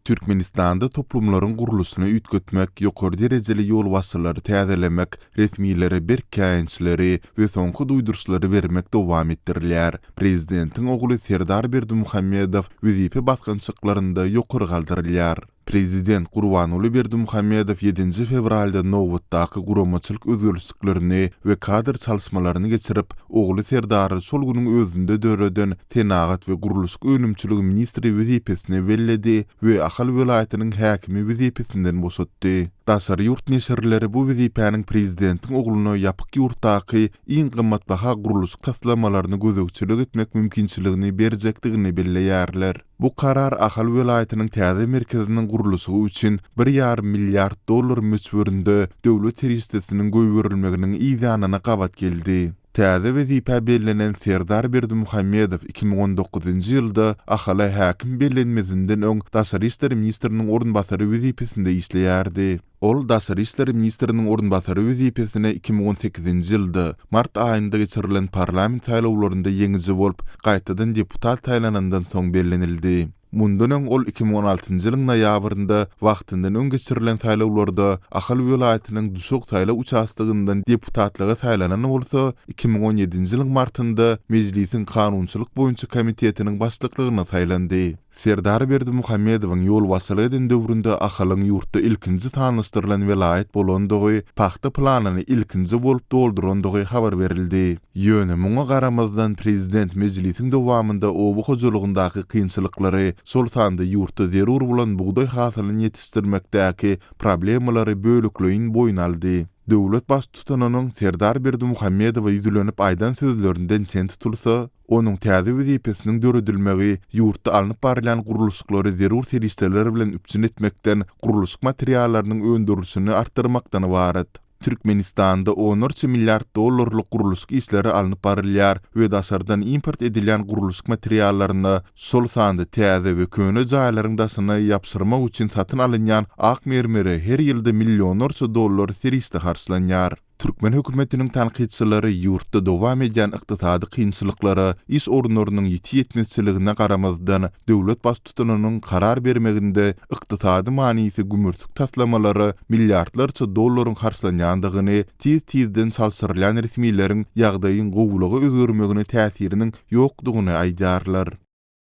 Türkmenistanda toplumlaryň gurluşyny üýtgetmek, ýokary derejeli ýolbaşçylary täzelemek, resmilere berk käýinçleri we soňky duýduryşlary bermek dowam etdirilýär. Prezidentiň ogly Serdar Berdimuhamedow wezipe basgançaklarynda ýokary galdyrylýar. Prezident Gurbanguly Berdimuhamedow ýedinji fewralda nobatdaky guramaçylyk özgerlişiklerini we kadr çalyşmalaryny geçirip, ogly Serdary şol günüň özünde döreden senagat we gurluşyk önümçiligi ministri wezipesine belledi we Ahal welaýatynyň häkimi wezipesinden boşatdy. Daşary ýurt neşirleri bu wezipäniň prezidentiň ogluna ýapyk ýurtdaky iň gymmatbaha gurluşyk taslamalaryna gözegçilik etmek mümkinçiligini berjekdigini belleýärler. Bu karar Ahal welaýatynyň täze merkeziniň gurluşygy üçin bir ýarym milliard dollar möçberinde döwlet serişdesiniň goýberilmeginiň yzýanyna gabat geldi. Täze wezipä bellenen Serdar Berdimuhamedow iki müň on dokuzynjy ýylda Ahala häkim bellenmezinden öň daşary işler ministriniň orunbasary wezipesinde işleýärdi. Ol daşary işler ministriniň orunbasary wezipesine iki müň on sekizinji ýylda, mart aýynda geçirilen parlament saýlawlarynda ýeňiji bolup, gaýtadan deputat saýlanandan soň bellenildi. Mundan öň ol iki müň on altynjy ýylyň noýabrynda wagtyndan öň geçirilen saýlawlarda Ahal welaýatynyň Duşak saýlaw uçastogyndan deputatlyga saýlanan bolsa, iki müň on ýedinji ýylyň martynda Mejlisiň kanunçylyk boýunça komitetiniň başlyklygyna saýlandy. Serdar Berdimuhamedowyň ýolbaşçylyk eden döwründe Ahalyň ýurtda ilkinji sanlaşdyrylan welaýat bolandygy, pagta planyny ilkinji bolup doldurandygy habar berildi. Ýöne muňa garamazdan prezident mejlisiň dowamynda oba hojalygyndaky kynçylyklary, şol sanda ýurtda zerur bolan bugdaý hasylyny ýetişdirmekdäki problemalary bölekleýin boýun aldy. Döwlet Baştutanynyň Serdar Berdimuhamedowa ýüzlenip aýdan sözlerinden çen tutulsa, onuň täze wezipesiniň döredilmegi ýurtda alnyp barylýan gurluşyklary zerur serişdeler bilen üpjün etmekden, gurluşyk materiallarynyň öndürilişini artdyrmakdan ybarat. Türkmenistanda onlarça milliard dollarlyk gurluşyk işleri alnyp barylýar we daşardan import edilýän gurluşyk materiallaryna, şol sanda täze we köne jaýlaryň daşyny ýapyşyrmak üçin satyn alynýan ak mermere her ýylda millionlarça dollar serişde harçlanýar. Türkmen hökümetiniň tankytçylary ýurtda dowam edýän ykdysady kynçylyklara, iş orunlarynyň ýiti ýetmezçiligine garamazdan, döwlet tutunynyň karar bermeginde ykdysady manysy gümürtik taslamalara milliardlarça dollaryň harçlanýandygyny, tiz-tizden çalşyrylýan resmileriň ýagdaýyň gowulyga özgermegine täsiriniň ýokdugyny aýdýarlar.